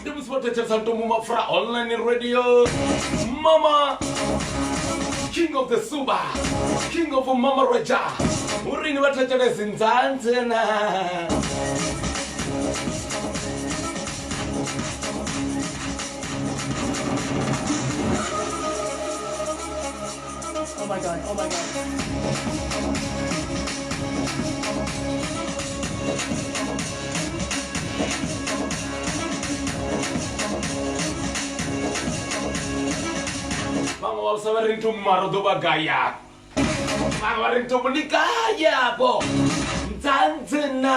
ndi musi vho thetshelesa lutombo mapfura online radio mama king of the suba king of mama roja urini vha thetshelesi nzanzena vhaṅwe vha vhusa vha ri nto mumaro ḓo vha gaya vhaṅwe vha ri nto ni gayabo ndzandzena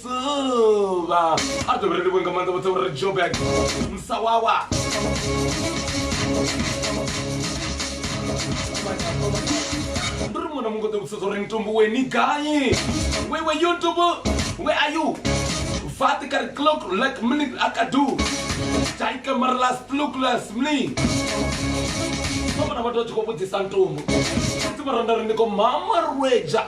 zuva a ḓo vhele livhuwe nga maanḓa vhotsa uri joburg musawawa ndi ri muṅwe na muṅwe ḓo vhudzisa zwa uri ntumbu we ni gai we we you ntumbu we are you fati ka ri clock like mni a ka du tai ka mara last look last mni vha vhona vhathu vha tshi khou vhudzisa ntumbu fhedzi vha randa ri ndi ko mama rweja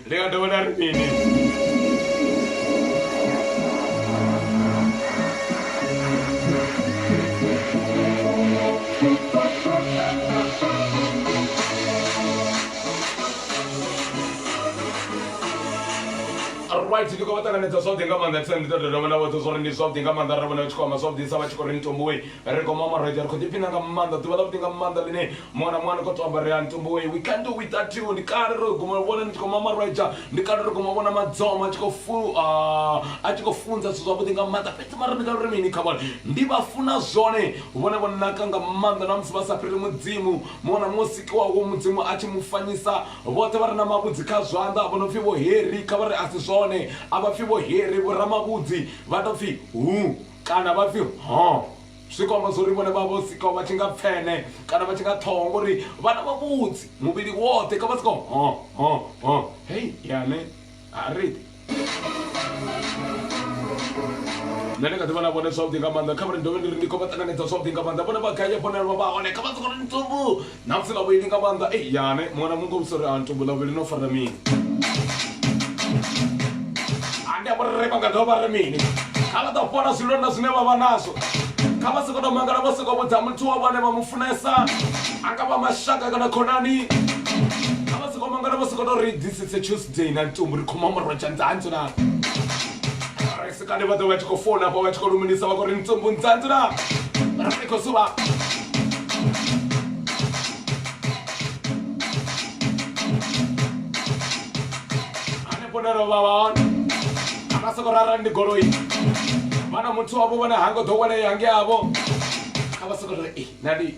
Ḽi nga dovha ḽa ri mini? Alright ndi khou vha ṱanganedza zwavhuḓi nga maanḓa ndi ṱoḓa u dovha nda vhudza zwa uri ndi zwavhuḓi nga maanḓa arali ra vhona vha tshi khou amba zwavhuḓisa vha tshi khou ri ni tombowi. Ri khou mama roṱhe, ri khou ḓiphina nga maanḓa, ḓuvha ḽavhuḓi nga maanḓa ḽine muṅwe na muṅwe a no khou tou ambarea ntumbu wei, we can't do without you, ndi kale ro guma vhona ni tshi khou mama roṱhe, ndi kale ro guma vhona madzoma a tshi khou fu, a tshi khou funza zwithu zwavhuḓi nga maanḓa, fhedzi mara ndi nga ri mini kha vhone, ndi vha funa zwone, vhone vho naka nga maanḓa na musi vha sa fhiri Mudzimu, muṅwe na muṅwe o sikiwaho Mudzimu a tshi mu fanyisa, vhoṱhe vha re na mavhudzi kha zwanḓa vho no pfi vho Heri, kha vha ri a si zwone, a vha pfi vho Heri, vho Ramavhudzi, vha tou pfi Hu. kana vha pfi ho zwi kwamba zwo ri vhone vha vho sikaho vha tshi nga pfene kana vha tshi nga ṱhoho ngori vhana vha vhudzi muvhili woṱhe ka vha sikaho ho ho ho hei yane a ri nṋe ndi kha ḓi vhona vhone zwavhuḓi nga maanḓa kha vha ri dovhe ndi ri ndi khou vha ṱanganedza zwavhuḓi nga maanḓa vhone vha gai hafho nalwa vha hone kha vha soko ri ntsumbu Na pfela vhuendi nga maanḓa ei yane mwana mungo u sori a ntumbula vhuvhili no fara mini ande a vhorre vha nga dovha vha ri mini kha vha ḓo fhola zwilonda zwine vha vha nazwo kha vha sokou tou mangala vho sokou vhudza muthu wa vhone vha mu funesa a nga vha mashaka kana khonani kha vha sokou mangala vho sokou tou ri this is a tuesday na ntumbu ri khoma murwa tshandzantsho na kale vha ḓo vha tshi khou fola afho vha tshi khou lumelisa vha khou ri ntsumbu ntsantsi na ri khou suvha hanefho nero vha vha hone ana soko rara ndi goloi vhana muthu wavho vhone ha ngo ḓowelea nge avho kha vha soko ri nandi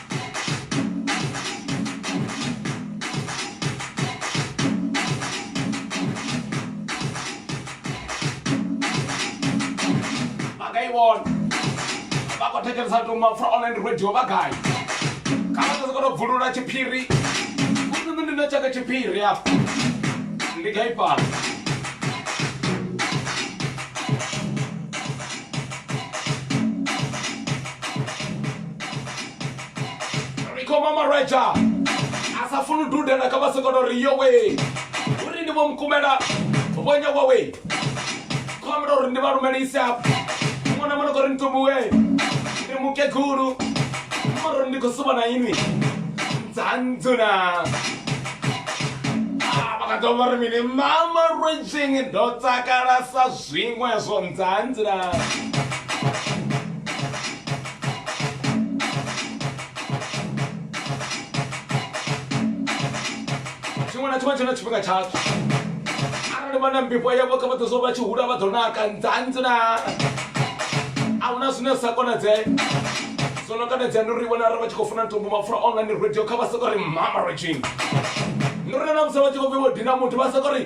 vhakaivhona vha khou thetshelesa tuma fra online radio vha gai kana tsese kono bvulula tshiphiri utsini ndi na tshaka tshiphiri afho ndi gai fhano rikhoma marwaja a sa funi dudela kha vha songo to ri yowe uri ndi vho mukumela vhonya wawe khomela uri ndi vha lumelise hafho muṅwe na muṅwe kho ri ntumbuwe ndi mukegulu moro ndi khou suba na inwi dzandzuna vhakaḓo vha ri mini mama rwejing ndo takala sa Zwiṅwe zwo ndzanzila. Tshiṅwe na tshiṅwe tshi na tshifhinga tshatsho arali vha na mbifho yavho kha vha ḓo zwo vha tshi hula vha ḓo naka ndzanzila a huna zwine zwi sa konadzee zwo no konadzea ndi uri vhona arali vha tshi khou funa ntombo mapfura online radio kha vha soko ri mama regime ndi uri na musi vha tshi khou vhe vho dina muthu vha soko ri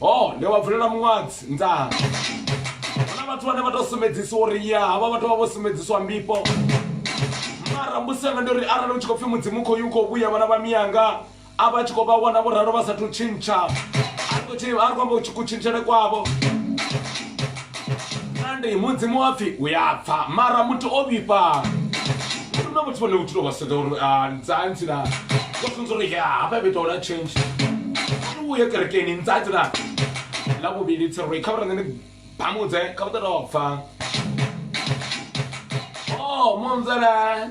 Ho, ndi wa vulela muṅwadzi nḓaha. Hu na vhathu vhane vha tou sumbedzisa uri ya havha vhathu vha vho sumbedziswa mbifho. Mara mbusi yanga ndi uri arali hu tshi khou pfhi mudzimu u khou yu khou vhuya vhana vha miyanga a vha tshi khou vha wana vho ralo vha sathu tshintsha. A ri khou tshi- a ri khou amba kutshintshele kwavho. kandi mudzimu wa pfi u ya pfa mara muthu o vhifha na muthu vhone vhutshilo vha sedza uri ah, nzanzi na vha funza uri ya hafha vhe tola change ri vhuye kerekeni nzanzi na ḽa vhuvhili tsero ri kha vha rangene bamudze kha vha ṱoḓa pfa o munzela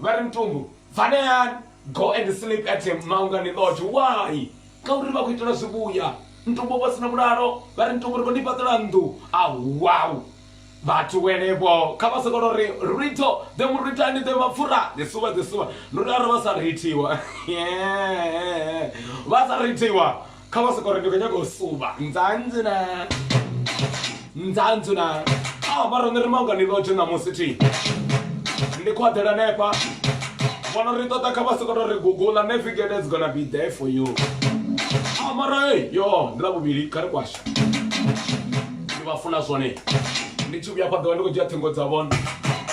Vha ri mutumbu vaneani go and sleep at Maungani Lodge why? Ngauri vha khou itela zwivhuya mutumbu vho sina vhulalo vha ri mutumbu ri khou ni fhaṱela nnḓu awau vhathu wenevho kha vha sokolo ri ritho ḓe muritani ḓe mapfura ḓe suvha ḓe suvha ndi uri arali vha sa rithiwa vha sa rithiwa kha vha sokore ndi khou nyaga u suvha nzanzi na nzanzi na a ah, vha rone ri mangani lotshe ṋamusi thi ndi khou aḓela nefa vhono ri ṱoḓa kha vha sokoto ri gugula navigate is gonna be there for you a ah, mara e yo ndi ḽa vhuvhili kha ri kwasha ndi vha funa zwone ndi tshi vhuya fhaḓowa ndi khou dzhia ṱhingo dza vhone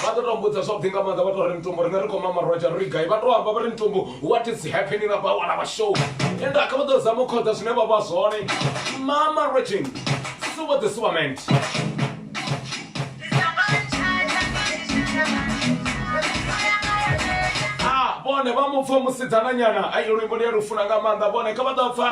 vha ḓo to mbudza zwavhuḓi nga maanḓa vha to ri mitumbo rine ri khou mamarwatsha ri gai vha to amba vha ri mitumbo what is happening about wana vha show ende a kha vha ḓo zama u khoḓa zwine vha vha zwone mama regin suwa the suwament ah, vhone vha mu pfa musidzananyana ai luimbo ndi a lufuna nga maanḓa vhone kha vha ḓo pfa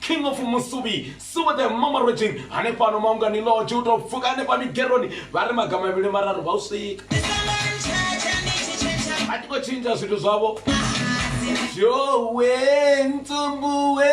king of musuvhi suva the mamarojing hanefhano maungani loge u to pfuka hanefha migeroni vha ri maga mavhili mararu vha u swika a tiko tshintsha zwithu zwavho jowe ntsumbuwe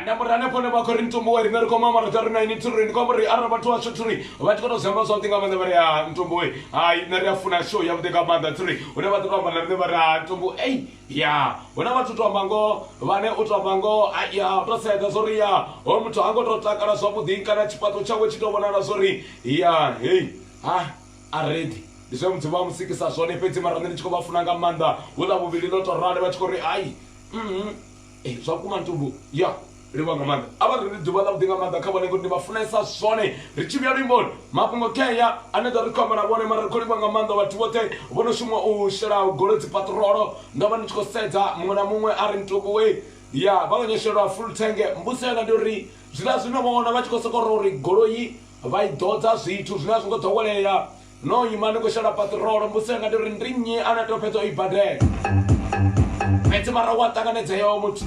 anda muri hanefho ne vha khou ri ntumbu wa riṋe ri khoma mara tha ri na ini thuri ndi khou amba uri arali vhathu vhashu thuri vha tshi kona u zwi amba zwavhuḓi nga maanḓa vha ri ha ah, ntumbu we hai nṋe ri a funa show yavhuḓi nga maanḓa thuri hune vha ḓo to amba na riṋe vha ri ha ah, ntumbu ei ya huna vhathu to amba ngoho vhane u to amba ngoho ah, ya to sedza zwo ri ya ho muthu ha ngo to takala zwavhuḓi kana tshifhaṱo tshawe tshi to vhonala zwo ri ya hei ha a reḓi ndi zwe mudzimu a mu sikisa zwone fhedzi mara nṋe ndi tshi khou vha funa nga maanḓa huḽa vhuvhili ḽo to rali vha tshi khou ri ai mm-hmm. eh, zwa kuma ntumbu ya livha nga maanḓa a vha ri ri ḓuvha ḽavhuḓi nga maanḓa kha vhone ngori ndi vha funesa zwone ri tshi vhuya luimboni mafhungo kheya ane ḓa ri khou amba na vhone mara ri khou livha nga maanḓa vhathu vhoṱhe vho no shuma u shela goloi dzi patrolo ndo vha ndi tshi khou sedza muṅwe na muṅwe a ri ntukuwe ya vha vha nyoshelwa full tange mbudzela ndi uri Zwiḽa zwino vho wana vha tshi khou sokou ri uri goloi vha i ḓodza zwithu zwine a zwi ngo ḓowelea. No ima ni khou shela paṱirolo, mbudziso yanga ndi uri ndi nnyi ane a tea u fhedza o i badela? Fhedzi mara u a ṱanganedzea hoyo muthu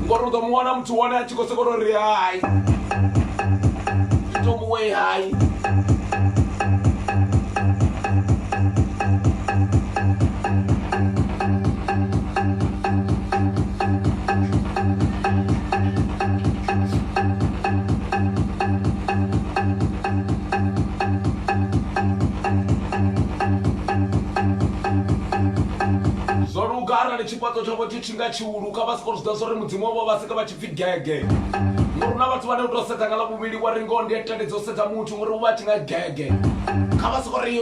ngori u ḓo mu wana muthu hone a tshi khou sokou tou ri hai, tou mu wee hai. zwo luga arali tshifhaṱo tshavho tshi tshi nga tshihulu kha vha soko zwi ḓa zwo ri mudzimu wavho vha sika vha tshi pfi gege ngori na vhathu vhane u tou sedza nga ḽa vhuvhili wa ri ngoho ndi ya tendedza u sedza muthu ngori u vha a tshi nga gege kha vha soko ri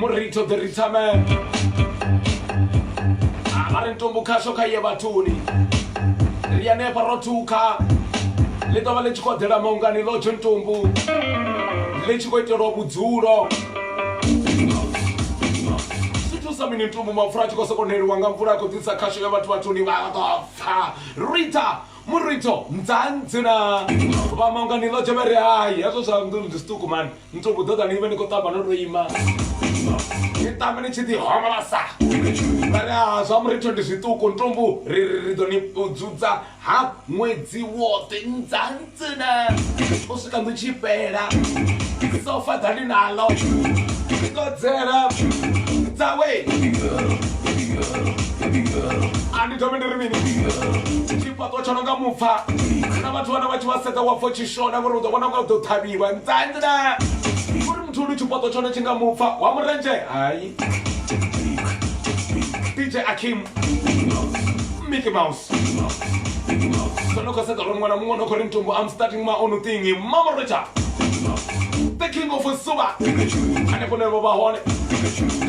murito the ritaman ah, vha ri ntumbu khasho kha ye vhathuni ri anefha ro thukha ḽi ḓo vha ḽi tshi khou ḓela maungani ḽo tsho ntumbu ḽi tshi khou itelwa vhudzulo sa mini ntumbu mapfura a tshi khou sokoneliwa nga mvula a khou ḓisa khasho ya vhathu vhathuni vha ḓo pfa rita murito nzanzina vha maungani ḽo dzhevhere hai hezwo zwa ndi zwiṱuku mani ntse o bodota ne ibe ni khou tamba no to ima ni tamba ni tshi ḓi homolosa vha ri a zwa muritho ndi zwiṱuku ntombu ri ri ri ḓo ni u dzudza ha ṅwedzi woṱhe ndzantsina u swika ndo tshi fhela sofa dza ndi nalo ngodzela dzawe a ndi dovhe ndi ri mini tshifhaṱo tsho no nga mupfa na vhathu vhana vha tshi vha sedza wa pfo tshi shona ngori u ḓo vhona nga u ḓo ṱhavhiwa ntsandla uri muthu ulu tshifhaṱo tshone tshi nga mupfa wa murendzhe hai dj akim mickey mouse sono khou sedza uri ṅwana muṅwe no khou ri mtumbo am starting ma onu thingi mama rocha the king of suba hanefho ne vho vha hone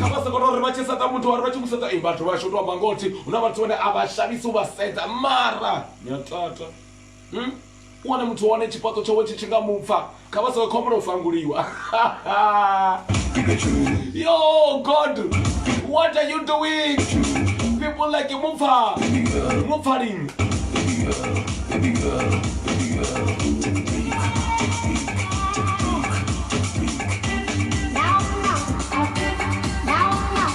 kha vha sokoto uri vha tshi sedza muthu vhari vha tshi musedza i vhathu vhashu tou amba ngothi hu na vhathu vhane a vha shavhisi u vha sedza mara ni a tata Wane muthu wane tshifhaṱo tshawe tshi tshi nga mupfa kha vha sa khombo na u fanguliwa yo god what are you doing people like mupfa mupfa lini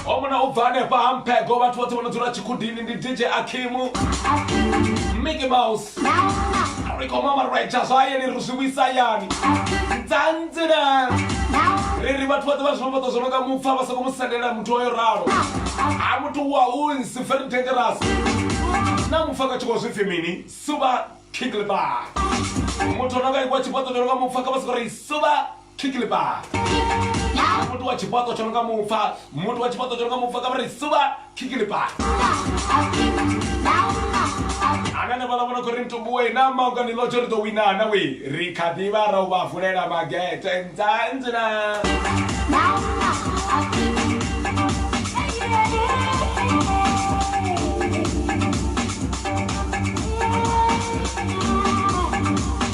omona u bva hanefha ha mphego vhathu vhoṱhe vho no dzula tshikudini ndi dj akimu mickey mouse ri khou mamarwetsha zwa hayani ri zwi vhuisa hayani dzandzina ri ri vhathu vhoṱhe vha zwivhoṱo zwo no nga mupfa vha soko mu sendela muthu oyo ralo a muthu wa unsi very dangerous na mupfa ka tshikho zwipfi mini suba kinglebar muthu o no nga ikwa tshifhaṱo tsho no nga mupfa kha vha soko ri suba Kiki le ba. Muthu wa tshifhaṱo tsho no nga mupfa. Muthu wa tshifhaṱo tsho no nga mupfa kha vha ri suba. Kiki le ba. Ana na vhala vhona khori mutumbu we na mauka ni lotsho ri ḓo wina na we ri kha ḓi vha ra u vha vulela magete nza nzina.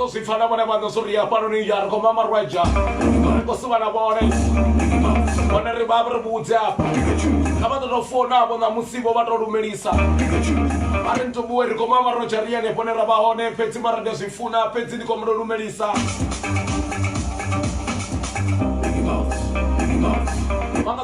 ḓo zwi pfa na vhone vha ḓo zwi ri hafhanoni ya ri khou mamarwedzha ri khou suvha na vhone hone ri vha ri vhudze afha kha vha ḓo tou founavho ṋamusi vho vha tou lumelisa vha ri ntubuwe ri khou mamarwedzha ri yene fhone ra vha hone fhedzi mara ndi a zwi funa fhedzi ndi khou mulo lumelisa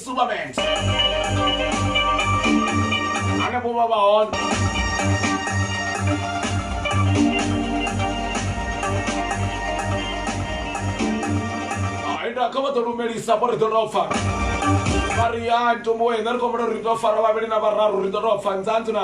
Super Band. Ana vho vha vha hone. Ainda kha vha ḓo lumelisa vho ri ḓo tou pfa. Vha ri ya ntombo we nṋe ri khou vhona uri ri ḓo fara vhavhili na vhararu ri ḓo tou pfa nzanzi na.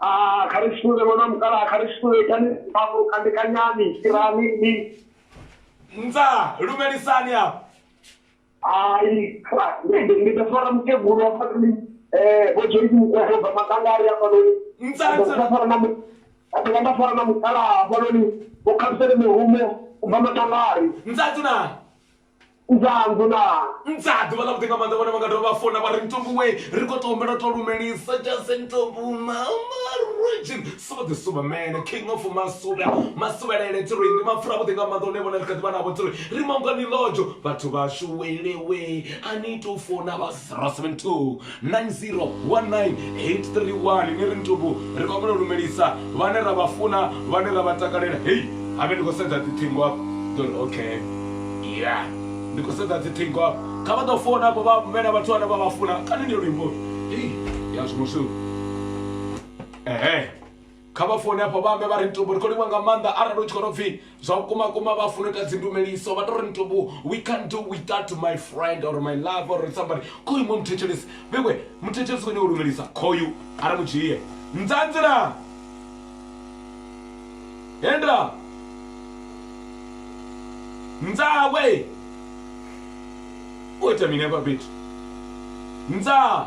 Ah, kha ri sule ṅwana mukalaha kha ri sule itani mafhulu khandekanyani fhirani ni mdza lumelisani afho hai ndi ḓo fara mukegulu wa fhano ni um vho joyce mukwahela ubva makangari hafhanoni nda fara na a dovha nda fara na mukalaha hafhanoni vho khabisele mihumo ubva makangari mdza dzulani mdzadi vha lavhuḓi nga maanḓa vhone vha nga dovha vha fona vha ri ntombo we ri khou tombela to lumelisa jase ntombo mamarigin so the superman king of masuvha masuvhelele tiri ndi mapfura vhuḓi nga maanḓa one vhone ri kha ḓi vha navho tiri ri mangani lojo vhathu vhashu welewe a ni to fona vha 072 901983 1 ni ri ntubu ri vha vhona lumelisa vhane ra vha funa vhane ra vha takalela hei habe ndi khou sedza dzithingo afho ḓori okay ya ndi khou sedza dzithingo afho kha vha ḓo fona afho vha vhena vhathu vhane vha vha funa kani ndi luimbo ya zwimushu ehe Kha vha foune afho vha ambe vha ri Ntombo ri khou livhuwa nga maanḓa arali u tshi khou tou pfhi zwa vhukuma kuma vha funa u ita dzindumeliso vha tou ri Ntombo we can't do without my friend or my love or somebody khoyu mu muthetshelesi vhewe muthetshelesi khou nyanga u lumelisa khoyu a ri mu dzhie nzanzi na hendra nzawe u ita mini hafha fhethu nzaa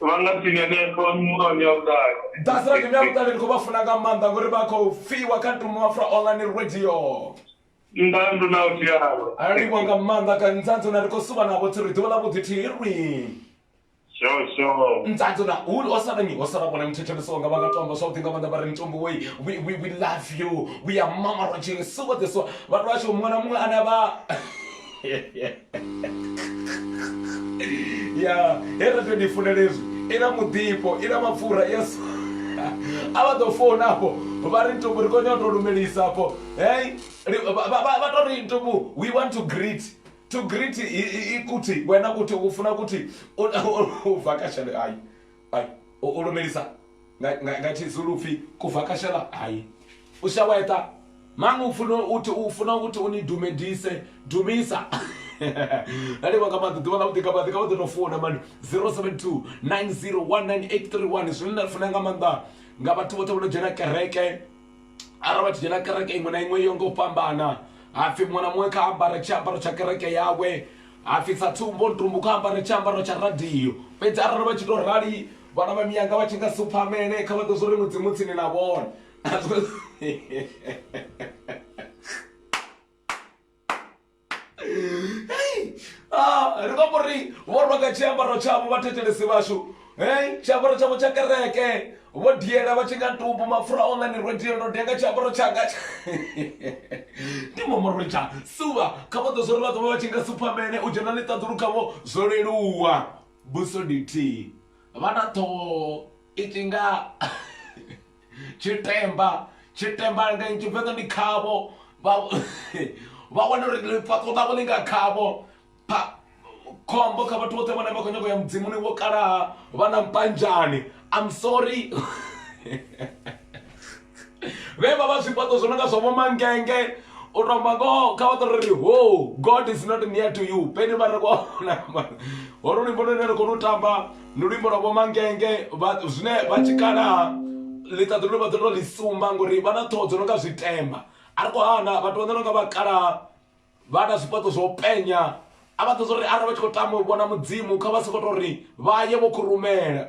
vha nga tsini hanefho miṅwaha mia vhuṱali that's right mia vhuṱali ndi khou vha funa nga maanḓa ngori vha khou fiwa kha tumafra online radio ndandu na u tialo alivho nga maanḓa ka nzanzo na ri khou suva navho thi ri ḓuvha ḽa vhuḓi thi ri nzanzo na hulu o sala nyi o sala vhona muthetshelesi wanga vha nga tomba zwavhuḓi nga maanḓa vha ri mitombo wei we, we, we love you we are mama roging suva this one vhathu vha tshi muṅwe na muṅwe ane vha ya he ra tou ni funela hezwi i na muḓifho i na mapfura yes a vha ḓo founa afho vha ri ntubu ri konya u tou lumelisa afho hey vha tou ri ntubu we want to greet to greet ikuthi wena kuthi u funa kuthi u bva ka shale ayi Ai, u lumelisa nga, nga, nga tshizulu upfi kuvhakashela hai u shaweṱa maṅwe funa uthi u funa ukuthi u ni dumedise dumisa nalivha nga maḓi ḓuvha ḽa vhuḓi nga maḓi nga vhaḓo no funa mani 072 9019831 zwine nda funa nga maanḓa nga vhathu vhoṱhe vho no dzhena kereke arali vha tshi dzhena kereke iṅwe na iṅwe yo nga u fhambana hapfi muṅwe na muṅwe kha ambare tshiambaro tsha kereke yawe hapfi sa tsumbo ntumbu kha ambare tshiambaro tsha radio fhedzi arali vha tshi to rali vhana vha miyanga vha tshi nga si upfhamele kha vha ḓo zwo ri mudzimu tsini na vhona Hey! Ah, ri vha mbo ri vho rwa nga tshiambaro tshavho vhathetshelesi vhashu hey tshiambaro tshavho tsha kereke vho diela vha tshi nga ntumbu mapfura online ro diela ro dia nga tshiambaro tshanga ndi momoroja suva kha vha ḓo zwo ri vha ḓo vha vha tshi nga suphamene u dzhena ḽiṱaḓulu khavho zwo leluwa buso dithihi vha na ṱhoho i tshi nga Tshitemba, tshitemba nga Tshivenḓa ndi khavho, vha vha wana uri ḽifhaṱo ḽavho ḽi nga khavho. Pha, khombo kha vhathu vhoṱhe vhane vha khou nyanga u ya mudzimuni vho kalaha vha na mpanzhani. I'm sorry. Vhe vha vha zwifhaṱo zwo no nga zwa vho mangenge, u to amba ngoho kha vha ṱori ri hoo, God is not near to you. Peni vha re vho, holo luimbo lune ra khou lu tamba. ndi luimbo lwa vhomangenge zwine vha tshikalaha ḽiṱaḓulu ḽi vha ḓo tou ḽi sumba ngori vha na ṱhoho dzo no nga zwitemba a ri khou hana vhathu vha ḓo no nga vhakalaha vha na zwifhaṱo zwo penya a vha ṱoḓa uri arali vha tshi khou tama u vhona mudzimu kha vha sokou tou ri vha ye vho khurumela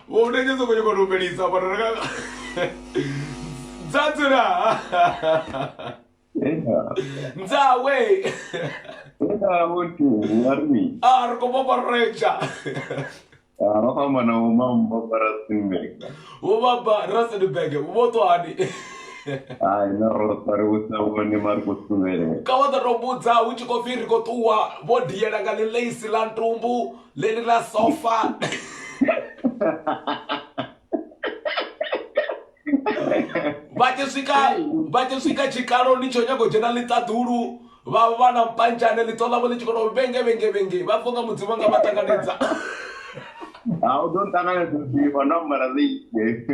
Vho nda tshi soko nyoko lumelisa vhona raka Ntsatula Nzawe Ina wote ngari Ah ri khou vhofha retsha Ah vha khou amba na vho mambo Rustenburg Vho baba Rustenburg vho ṱwani Hai na roṱwa ri vhusa vhone ma ri khou suvhelela Ka wa ḓo to mbudza hu tshi khou pfi ri khou ṱuwa vho diela nga ḽiḽeisi ḽa ntumbu Lady la sofa. vha tshi swika vha tshi swika tshikalo ni tsho nyago dzhena ḽiṱaḓulu vha vha na mpanjane ḽiṱo ḽavho ḽi tshi kona vhenge vhenge vhenge vha pfha nga mudzimu nga vha ṱanganedza ha u ḓo nṱanganedza ḓivha ndo ambara ḽeite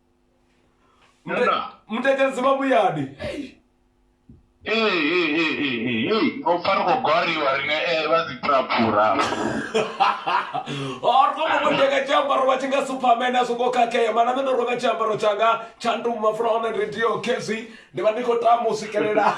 Muna. mutetedzi vha vhuyadi Ee, ee, ee, ee, ee, ee. ngo pfa ri khou gwariwa rine ee vha dzi phuraphura ri khou muvhundeka tshiambaro vha tshi nga superman a songo khakhea mana nṋe ndo renga tshiambaro tshanga tsha nduma from online radio khezwi ndi vha ndi khou tama u swikelela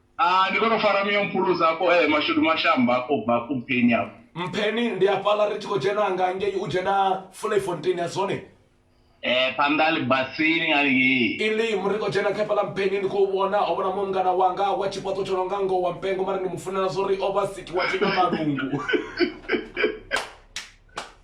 Ah, ndi kono fara miyo mphuluza afho eh mashudu mashamba afho bva afho mpheni afho. Mpheni ndi afhaḽa ri tshi khou dzhena nga ngei u dzhena Vlei-Fontein ya zwone. Eh phanḓa ha ḽibasini nga ngei. Elim ri khou dzhena kha fhaḽa mpheni ndi khou vhona ho vhona muṅwe mungana wanga wa tshifhaṱo tsho no nga ngoho wa mpengo mara ndi mu funela zwori o vha sikiwa tshi na malungu.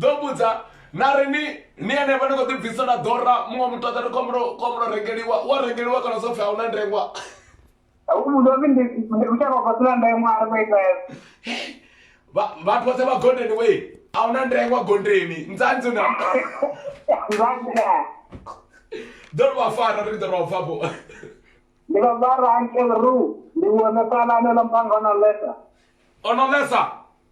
ḓo vhudza na ri ni ni henevha ni khou ḓibvisa na ḓora muṅwe muthu aḓa ri khomulo khomulo rengeliwa wa rengeliwa kana zwo pfhi a hu na ndengwa uzovi ndi kushaka kwa sina ndengwa a ri khou ita vhathu vhoṱhe vha gondeni we a hu na ndengwa gondeni nzanzi na ḓo ri vha fara ri ḓo ri vha fafho ndi vha vha rankel ru ndi vhone fhalano ḽa mpangano lesa ono lesa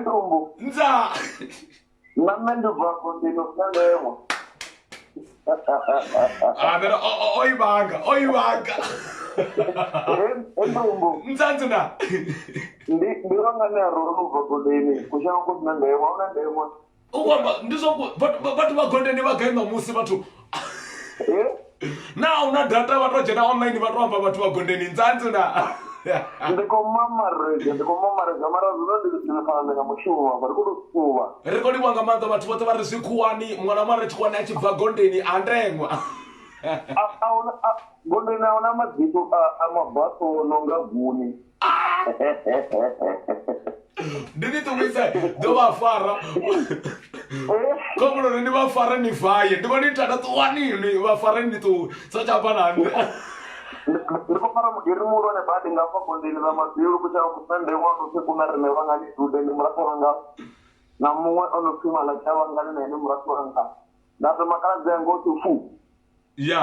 Ndumbu. Nza. Na nṋe ndi bva afho ndi no salelwa. Ah, then o i vhanga, o i vhanga. Ndumbu. Nza nzina. Ndi ndi vhanga ne a rolo ubva goleni. Kushango ku sina ndemo, a una ndemo. u khou amba ndi zwa ku- vhathu vha- vhathu vha goldeni vha gai ṋamusi vhathu Eh? naa una data vha to dzhena online vha to amba vhathu vha goldeni nzanzi na ndi khou mamarega ndi khou mamarega mara zwino ndi ndifana nga mushumo mafha ndi khou tou suvha ri khou livha nga maanḓa vhathu vhoṱhe vha ri zwi khuwani muṅwe na muṅwe a ri tshikhuwani a tshi bva goldeni a ndengwa A- ahuna- a- gondoni a huna mabito a- a mabaso o no nga guni ndi ni ṱuwise ḓo vha fara khomuloni ni vha fare ni faye ndi vhona ithata ṱuwani ni vha fare ni ṱuwe sa tsha bva na nṋe ndi khou fara mugeri muhulwane badi nga hafha gondeni ḽa mabilu kutshela musande wa no pfi kuna rine vhangani dude ndi murathu wanga na muṅwe o no pfi malaki a vhangani na ene murathu wanga nda ri makaladzi anga o tsho fu ya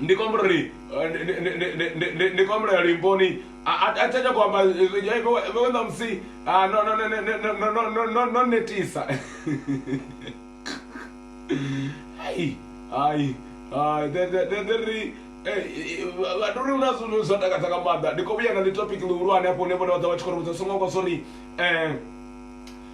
ndi khou humbula uri ndi khou humbula limponi a tsha tsha khou amba vhe ṋamusi no netisa hai hai hai ḓe ri vhathu ri huna zwithu zwo takadza nga maanḓa ndi kho vhuya na ḽi topic ḽihulwane hafho hune vhone vha ḓovha vha tshi khou ri vhudza songo hangwa sori um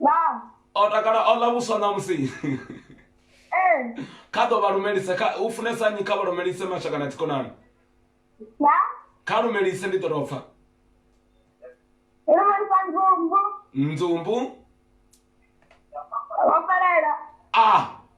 Vha. o takala o ḽa vhuswa ṋamusi Ee. kha ḓo vha lumelisa kha u funesa nnyi kha vha lumelise mashaka na dzikonani Vha. kha lumelise ndi ḓo tou pfa Lumelisa nzumbu. nzumbu Vho fhelela. a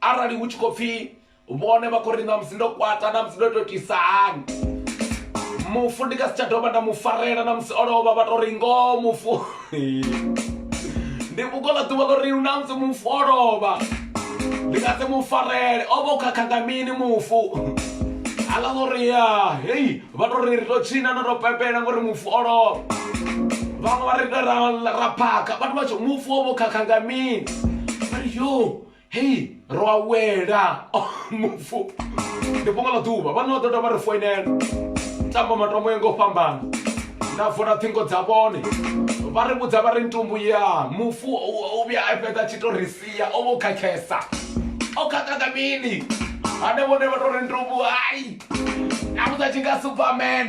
Arali hu tshi khou pfi vhone vha khou ri ṋamusi ndo kwata, ṋamusi ndo tou itisa hani, mufu ndi nga si tsha dovha nda mu farela ṋamusi o lovha vha tou ri ngoho mufu ndi vhungoho ḽa ḓuvha ḽo ri ṋamusi mufu o lovha ndi nga si mu farele o vha u khakha nga mini mufu haḽa ḽo ri ya hei vha tou ri ri tou tshina na tou pepela ngori mufu o lovha vhaṅwe vha ri ra ra phakha vhathu vha tshi mufu o vha u khakha nga mini vha ri yo hei ro a wela mufu ndi fhungo ḽa ḓuvha vhana vha ḓo dovha ri foinela tamba matombo ya nga u fhambana nda vula ṱhingo dza vhone vha ri vhudza vha ri ntumbu ya mufu u vhuya a fhedza tshi to ri sia o vho khakhesa o khakha nga mini hane vhone vha to ri ntumbu hai a vhudza tshi nga superman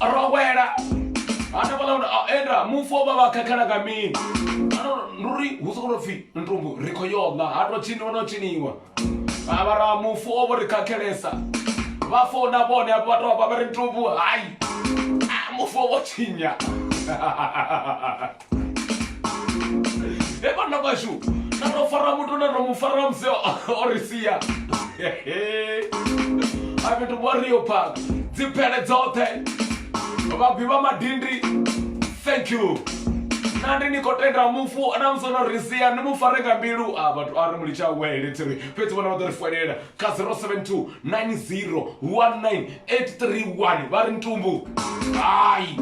rowela hanefha ḽa a enda mufu o vha vha khakhela nga mini ano nuri hu soko to pfhi ntumbu ri khou yo ḽa ha to tshiniwa no tshiniwa ha vha ra mufu o vho ri khakhelesa vha founa vhone hafho vha to vha vha ri ntumbu hai mufu o vho tshinya e vhanna vhashu na ro fara muthu na ro mu fara musi o- o ri sia a fhethu warrior park dziphele dzoṱhe vhabvi vha madindi thank you na ndi ni khou tenda mufu na musi ono ri sia ni mu fare nga mbilu a vhathu a ri mu litsha wele tsiri fhedzi vhona vha ḓo ri foinela kha 072 90 19 831 vha ri ntumbu hai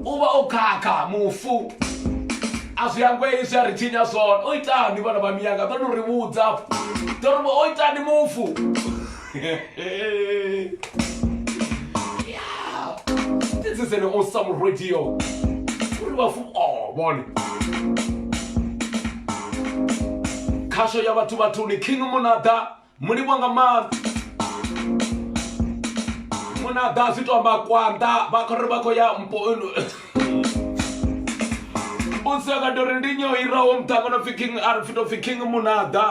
u vha o khakha mufu a zwi angwei zwi a ri tshinya zwone o itani vhana vha miyanga ḓo no ri vhudza ḓo ri o itani mufu this is an awesome radio uri vhafu o oh, vhone khasho ya vhathu vhathuni king munada Mu livhuwa nga maanḓa muna ḓa zwi to amba kwanḓa vha khou ri vha khou ya mpo u seka tori ndi nyo iraho muṱangano pfi king a ri fito pfi king munaḓa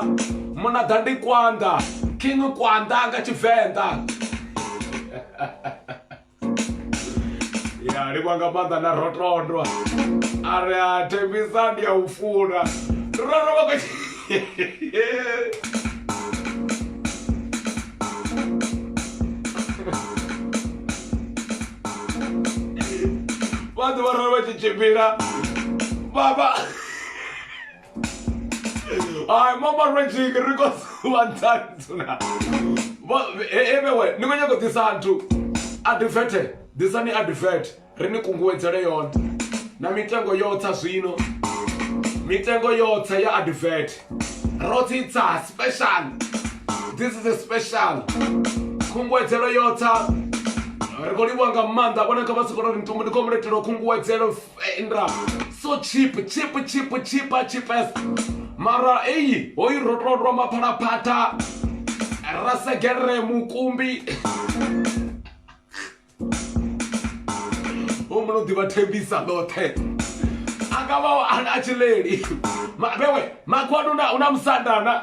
munaḓa ndi kwanḓa king kwanḓa nga tshivenḓa ya livha nga maanḓa na rotondwa a ri a thembisa ndi a u funa roro vha vha ḓuvha roro vha tshi tshimbila baba Ay, mama Reggie, ri khou dzula nṱhani dzula. Vha- e- e vhewe, ni khou nyanga u ḓisa nthu. Advert, ḓisani advert. Ri ni kunguwedzele yone. Na mitengo yo tsa zwino. Mitengo yo tsa ya advert. Ro tsitsa special. This is a special. Kunguwedzelo yo tsa. Ri khou livhuwa nga maanḓa vhone kha vha si khou ri ntumbu ndi khou muletelo kunguwedzelo Indra so cheap cheap cheap cheap cheapest mara eyi hoyi ro tondwa maphalaphatha ra segere mukumbi o muno ḓivha thembisa ḽoṱhe a nga vha a tshi leli vhewe makhwanu na una musandana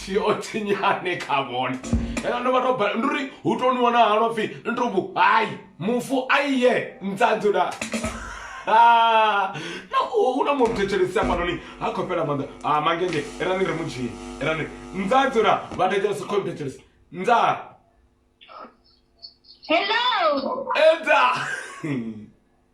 thi o tsinyane kha vhone hela ndo vha to bala ndi uri hu to ni wana halwa pfhi ni to vhu hayi mufu a iye ntsadzho na na hu na muthu thetshelesi hafhanoni ha khou fhela maanḓa a mangenge erani ri mu dzhie erani ntsadzho na vha thetshelesi khou thetshelesi ntsah Hello. Eda.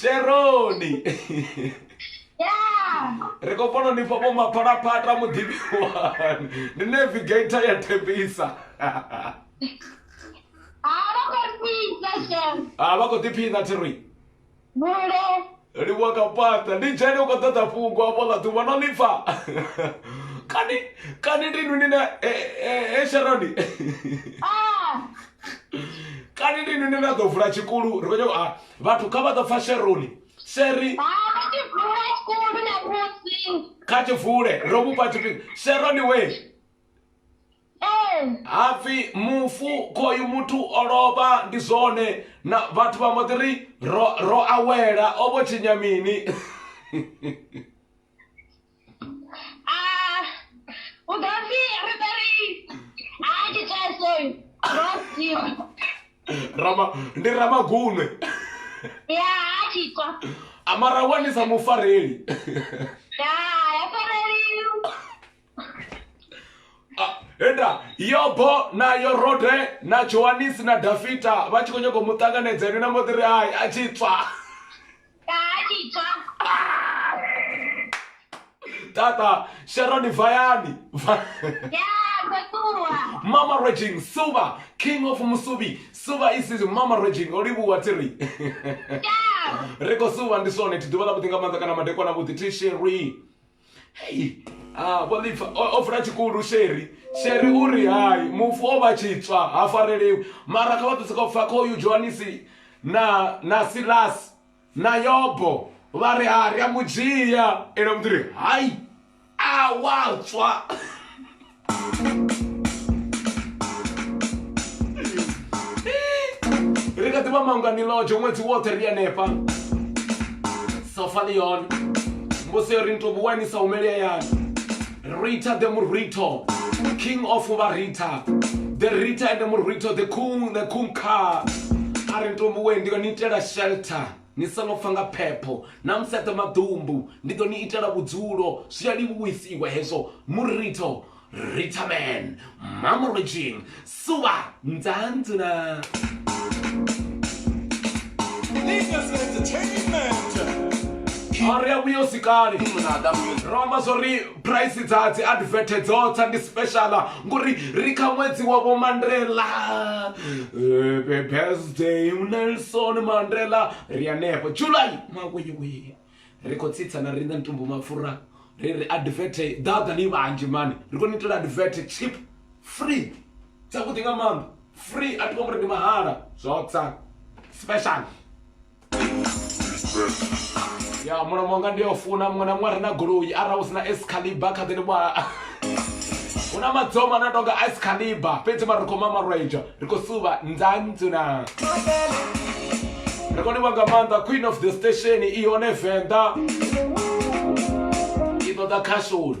sheroni ri khou fana ni fhafho maphalaphata muḓivhi wani ndi navigator ya thembisa a vha khou ḓiphina thiroi Vhula. Livhuwa kha pata ndi dzhene u khou ṱoḓa fhungo afho ḽa ḓuvha no ḽipfa kani kani ndi nuni na e eh, eh, eh, sharoni ah. kani ndi nuni na ḓo vula tshikulu ri khou nyako ah, vhathu kha vha ḓo pfa sheroni sheri kha tshivule ro mufha tshifhinga sheroni we hapfi mufu khoyu muthu o lovha ndi zwone na vhathu vha mbo ḓi ri ro ro awela o vho tshinya mini u ḓo pfi ri ḓo ri a tshi tshasoyu ro sia rama ndi ramagunwe ya a tshi tswa amara wanisa mufareli ya ya fareliwa Ah, enda yobo na yorode na johanisi na dafita vha tshi khou nyanga u mu ṱanganedza ene na mbo ḓi ri hai a tshi tswa Ka a tshi tswa. tata sharoni vayani Va- Ya, ndo ṱuwa. mama raging silver king of musuvi silver is his mama raging o livhuwa tiri Ya. ri khou silver ndi swone thi ḓuvha ḽa vhuḓi nga maanḓa kana madekwana vhuḓi ti sheri Hei, ah, vho ḓi pfa o o vula tshikulu sheri sheri u ri hai mufu o vha tshi tswa ha fareliwi mara kha vha ḓise khou pfa khoyu johanisi na na silasi na yobo vha ri ha ri a mu dzhia ene muthu ri hai a wa tswa ri kha ḓivha mangani lodzhe ṅwedzi woṱhe ri hanefha sofa ḽi yone mbusi yo ri ni tou vhuwanisa humeli hayani rita the murito king of varita the rita and the murito the kung the kung car a ri ni tou vhuwe ndi yo ni itela shelter Ni songo fa nga phepho, na museṱe maḓumbu, ndi ḓo ni itela vhudzulo, zwi a livhuwisiwa hezwo, muritho, rithamen, mamorijin, suvha, nzanzu na. Linus Entertainment. Ri a vhuya hu si kale, ro amba zwo ri. phuraisi dza dzi advert dzo tsa ndi special ngori ri kha ṅwedzi wa vho mandela eh, birthday nelson mandela ri anefho july mawewe ri khou tsitsa na riṋe ntumbu mapfura ri ri advert ḓaḓa ni vhanzhi mani ri khou ni itela advert chip free dzavhuḓi nga maanḓa free a ti vha ngori ndi mahala zwo tsa special ya mulomo nga ndi a u funa muṅwe na muṅwe a re na goloi arali hu si na escaliba kha ḓi ni vha hu na madzoma na tonga escaliba fhedzi mara ri khou mamarweja ri khou suva nzanzu na ri khou ni vha nga maanḓa queen of the station i hone venḓa i ṱoḓa khashoni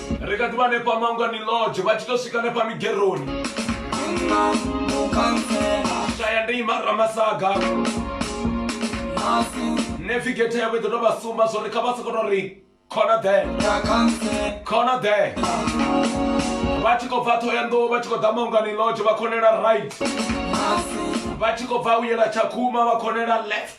ri kha ḓi vha hanefha mangwani lodge vha tshi tou swika hanefha migeroni shaya ndi ima ramasaga navigator yavho i ḓo tou vha sumba zwo ri kha vha sokoto ri khona ḓe khona ḓe vha tshi khou bva ṱhohoyanḓou vha tshi khou ḓa mangwani lodge vha khonela right vha tshi khou bva u yela tshakhuma vha khonela left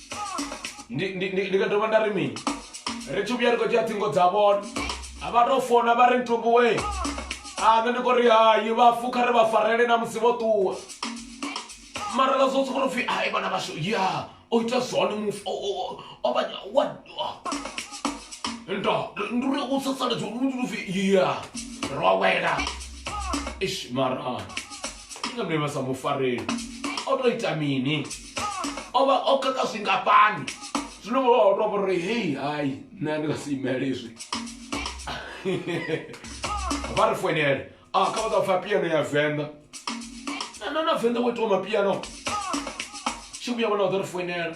ndi ndi- ndi- ndi nga dovha nda ri mini ri tshi vhuya ri khou dzhia ṱhingo dza vhone a vha tou fona vha ri ntumbuwe a nṋe ndi khou ri hayi vhafu kha ri vha farele na musi vho ṱuwa mara ra zwo sokou pfhi ai vhana vhashu ya o ita zwone mufu o- o- o- o vha wa nda ndi uri u sasaledza uri ndi pfhi ya ro wela ish mara inga mne vha sa mu fareli o tou ita mini o vha o kaka zwingafhani zwino vha vha tou vhori hei hai nṋe a ndi nga si imele izwi vha ri foinele a kha vha ḓa pfa piano ya venḓa na na venḓa wo itiwa mapiano tshi vhuya vhona vha ḓo ri foinela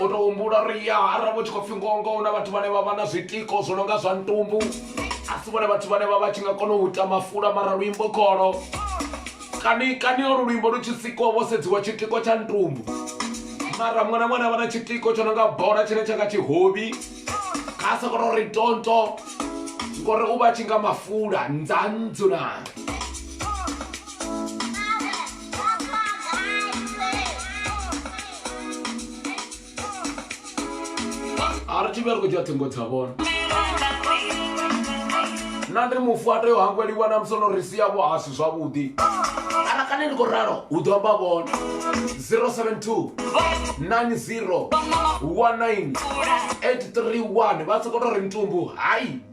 u to humbula uri ya arali vho tshi khou pfhi ngongo hu na vhathu vhane vha vha na zwitiko zwo no nga zwa ntumbu a si vhone vhathu vhane vha vha tshi nga kona u ita mafula mara luimbo kholo kani kani olu luimbo lu tshi sikiwa vho sedziwa tshitiko tsha ntumbu mara mwana mwana vha na tshitiko tsho no nga bola tshine tsha nga tshihovhi kha sa kona uri tonto ngori u vha tshi nga mafula ndzandzuna a ri thivheli khou dzhia ṱhingo dza vhona na ndi mufu a tea u hangweliwa na musi no ri sia vho a si zwavhuḓi ara kane ndi khou ralo hu ḓo amba vhona 072 90 19 831 vha sokou tou ri mutumbu hai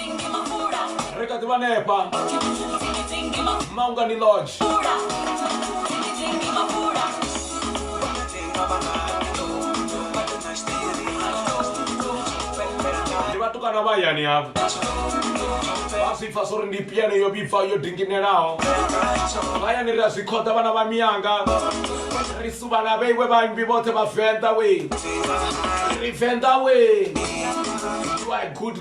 Ri kha ḓi vha hanefha Maungani Lodge. Ndi vhatukana vha hayani havho. Vha zwi pfa zwori ndi piano yo vhibva yo dinginelaho. Hayani ri a zwi khoḓa vhana vha miyanga. Ri suvha na vheiwe vhaimbi vhoṱhe vha Venḓa we. Ri Venḓa we. You are a good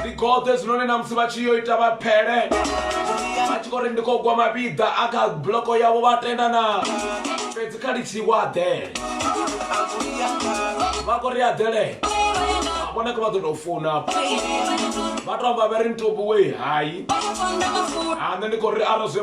ndi gode hezwinoni na musi vha tshi yo ita vha phele vha tshi khou ri ndi khou gwa mapiḓa a kha buloko yavho vha tenda na fhedzi kha litshi wa aḓele vha khou ri aḓele vhone kha vha ḓo tou funa vha tou amba vha ri ntobuwe hai ha nṋe ndi khou ri ara zwe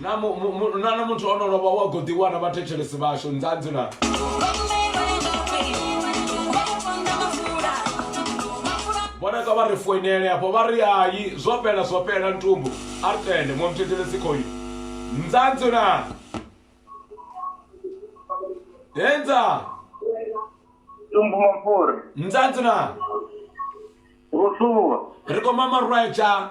Na mu, mu, mu, na na muthu ono lovha wa khou ḓiwana vhathetshelesi vhashu nzanzi na vhoneka vha ri foinele afho vha ri hayi zwo fhela zwo fhela ntumbu a ri tende muṅwe muthetshelesi khoyu nzanzi na henza tumbu mapfura nzanzi na vho ṱuwa ri khou mama rwetsha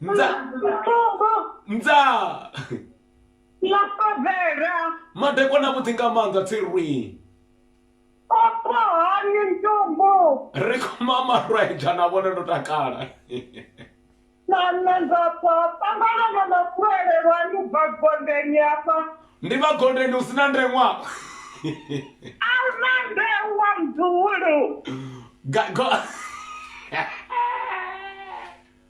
Mdza. Mfumbu. Mdza. Ḽafavhela. Madekwana vhuḓi nga maanḓa tsirwi. Opo hani ntumbu. Ri khou mama rwaedza na vhone ndo takala. Na nṋe ndo pfa ṱangana na mafuele lwanu bva gondeni afha. Ndi vha gondeni hu sina ndeṅwa. A hu na ndeṅwa mduhulu. Ga go.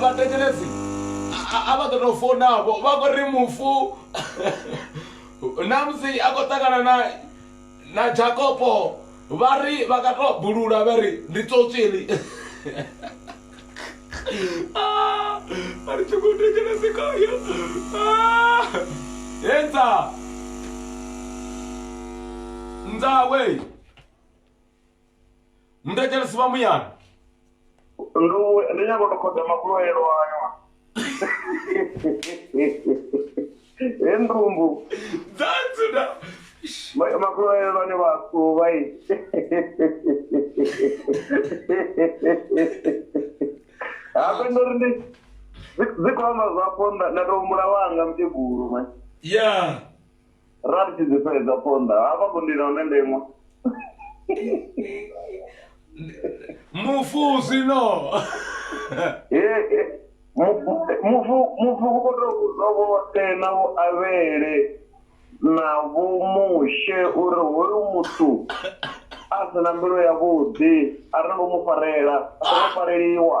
vhatekeledzi a vha ḓo tou founavho vha khou ri mufu na musi a khou ṱangana na na jakopo vha ri vha nga tou bulula vha ri ndi tsotsi heḽi ah, a ri tshi khou tekelezi khayo ah, hedza nzawe mudajalasi vha muyani Ndo ndi nyanga u to khoda makuloelo ayo. He ndumbu that's na ma- makuloelo ni vhathu vhai. Hafhe ndo ri ndi dzi- dzi khou amba zwa ponda nda to humbula wanga mukegulu manje. yeah ra ri tshi dzi fhedza phonḓa hafha ku ndila hune nda iṅwa mufusi no mufu mufu u khou tou vhudzwa vhoṱhe na vho avhele na vho mushe uri hoyu muthu a si na mbilu yavhuḓi a ri ngo mu farela a songo fareliwa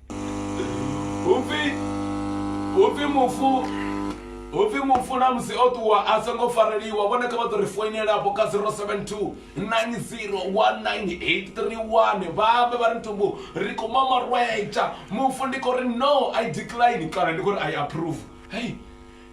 hupfi hupfi mufu hupfi mufu na musi o ṱuwa a songo fareliwa vhone kha vha ḓo ri foinela afho kha 072 9019831 vha ambe vha ri ntumbu ri khou mamarwetsha mufu ndi khou ri no i decline kana ndi khou ri i approve hei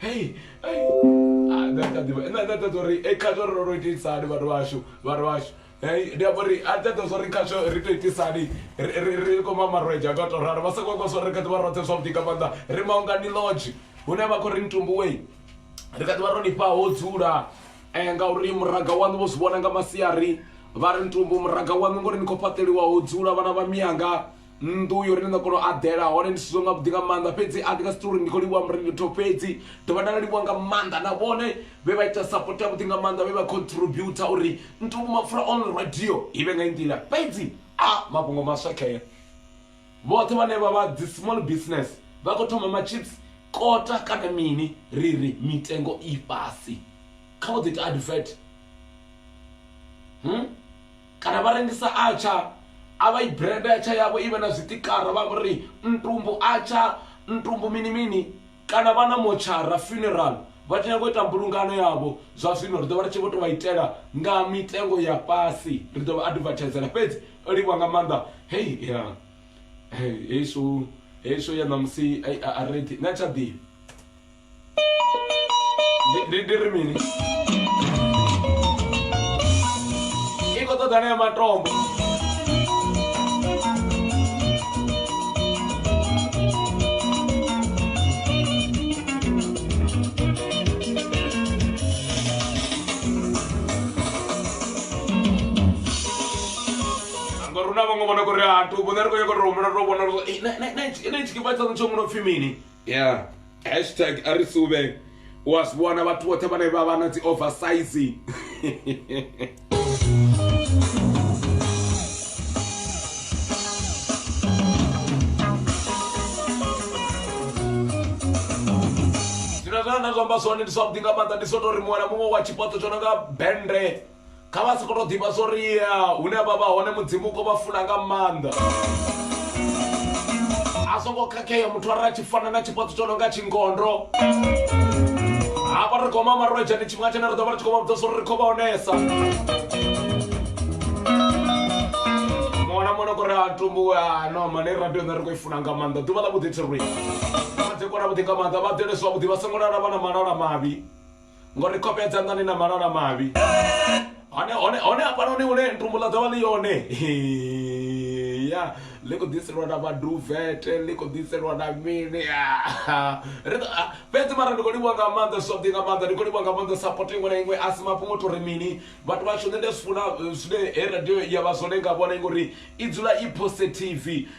hei nṋe nda ḓivha nṋe nda ṱoḓa uri kha zwo ri ro ro itisa hani vhathu vhashu vhathu vhashu ndi amba uri a ṱoḓa zwa uri kha zwo ri to itisa hani ri ri ri kho ma marwedzha nga to ralo vha sa khou amba zwa uri ri kha ḓivha roṱhe zwavhuḓi nga maanḓa ri maungani lodge hune vha khou ri ntumbuwe ri kha ḓivha ro nifha ho dzula ngauri muraḓo waṋu vho zwi vhona nga masiari vha ri ntumbu muraḓo waṋu ngori ni khou fhaṱeliwa ho dzula vhana vha mianga. nnḓu uyo uri ni ḓo kona u aḓela hone ndi sizwe nga vhuḓi nga maanḓa fhedzi a ndi nga si tori ndi khou livhuwa murengitho fhedzi dovha nda livhuwa nga maanḓa na vhone vhe vha ita support ya vhuḓi nga maanḓa vhe vha contributor uri ntuku mapfura on radio i vhe nga i nḓila fhedzi a mafhungo maswa khea vhoṱhe vhane vha vha dzi small business vha khou thoma machips kota kana mini ri ri mitengo i fhasi kha vho ḓi ita advert hmm? kana vha rengisa atsha a vha i brand atsha yavho i vhe na zwitikara vha vhori ntumbu atsha ntumbu mini mini kana vha na motshara funeral vha tshi nyanga u ita mbulungano yavho zwa zwino ri ḓo vha ri tshi vho tou vha itela nga mitengo ya fhasi ri ḓo vha advertisela fhedzi o livha nga maanḓa hei ya hei shu hei shu ya ṋamusi a ri na tsha ḓivhi ndi ri mini i khou ṱoḓa na ya matombo rona vhaṅwe vhona kho ri a thubo nṋe ri khou nyanga u to humbula to vhona uri na tshikipha tshaṋu tsho mu no pfhi mini yeah hashtag a ri suvhe u a zwi vhona vhathu vhoṱhe vhane vha vha na dzi oversize zwine zwa na zwa amba zwone ndi zwavhuḓi nga maanḓa ndi so tori muṅwe na muṅwe wa tshipotso tsho no nga bende Kha vha sokou tou ḓivha zwa uri hune vha vha hone Mudzimu u khou vha funa nga maanḓa. A zwo ngo khakhea muthu arali a tshi fana na tshifhaṱo tsho no nga tshingondo hafha ri goma marwedzha ndi tshifhinga tshine ri ḓo vha ri tshi khou vha vhudza zwa uri ri khou vha onesa muṅwe na muṅwe no kori a tumbu a no mane radio nṋe ri khou i funa nga maanḓa ḓuvha ḽa vhuḓi thirwi vha ḓi kona vhuḓi nga maanḓa vha ḓele zwavhuḓi vha songo lala vha na malala mavhi ngo ri kopedza nḓani na malala mavhi hone hone hone hafhanoni hune ntumbulo dzo vha ḽi yone ya ḽi khou ḓiselwa na maduvete ḽi khou ḓiselwa na mini fhedzi mara ndi khou livhuwa nga maanḓa soḓi nga maanḓa ndi khou livhuwa nga maanḓa sapoto iṅwe na iṅwe a si mafhungo to ri mini vhathu vhashu nṋe ndi a zwi funa zwine he radio ya vha zwone nga vhone ngori i dzula i positive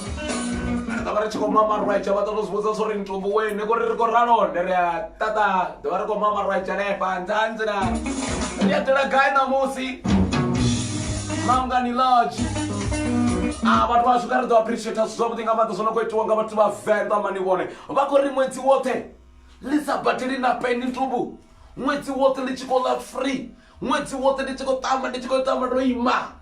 ri ḓovha ri tshi khou mama rwaitsha vha ṱoḓa u zwivhudza zwo ri ntombo wene kori ri khou ralonde ri a ṱaṱa ḓovha ri khou mama rwaitsha lefha nṱhanzi na ri a tela gai ṋamusi mangani lodge a vhathu vhashu kha ri ḓo appreciate zwithu zwavhuḓi nga maanḓa zwo no khou itiwa nga vhathu vha venḓa mani vhone vha khou ri ṅwedzi woṱhe ḽi sa badeli na peni ntombo ṅwedzi woṱhe ḽi tshi khou ḽa free ṅwedzi woṱhe ndi tshi khou tamba ndi tshi khou tamba ndo ima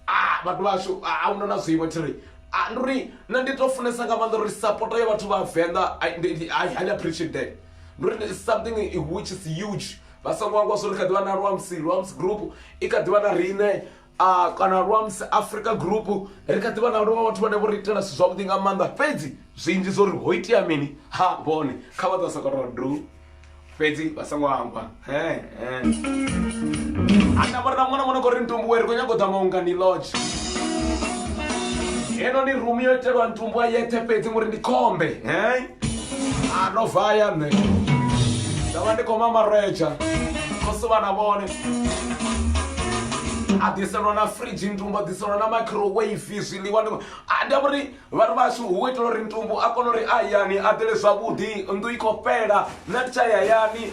ah, vhathu vhashu ah, ahuna na zwiimo thi ri ah, ndi uri na ndi to funesa nga maanḓa uri sapota ya vhathu vha venḓa i highly appreciate that ndi uri something which is huge vha songo angwa zwo ri kha ḓivha na luamsi luamsi group i kha ḓivha na riṋe a kana lwa msi africa group ri kha ḓivha na lwa vhathu vhane vho ri itela zwithu zwavhuḓi nga maanḓa fhedzi zwinzhi zwo ri ho itea mini ha vhone kha vha ḓa sakatwa du fhedzi vha songo amba he ana vha ri na ṅwana ṅwana khou ri ntumbuwe ri khou nyago ḓa maungani lodge heno ni rumu yo itelwa ntumbuwa yeṱhe fhedzi ngori ndi khombe he ano vaya nṋe nda vha ndi khou mamaretsha khosi vhana vhone a ḓiselwa na fridge ntumbu a ḓiselwa na microwave zwiḽiwa ndi a ndi uri vhathu vhashu hu itela uri ntumbu a kone uri a hayani a ḓele zwavhuḓi nnḓu i khou fhela nṋe ndi tsha hayani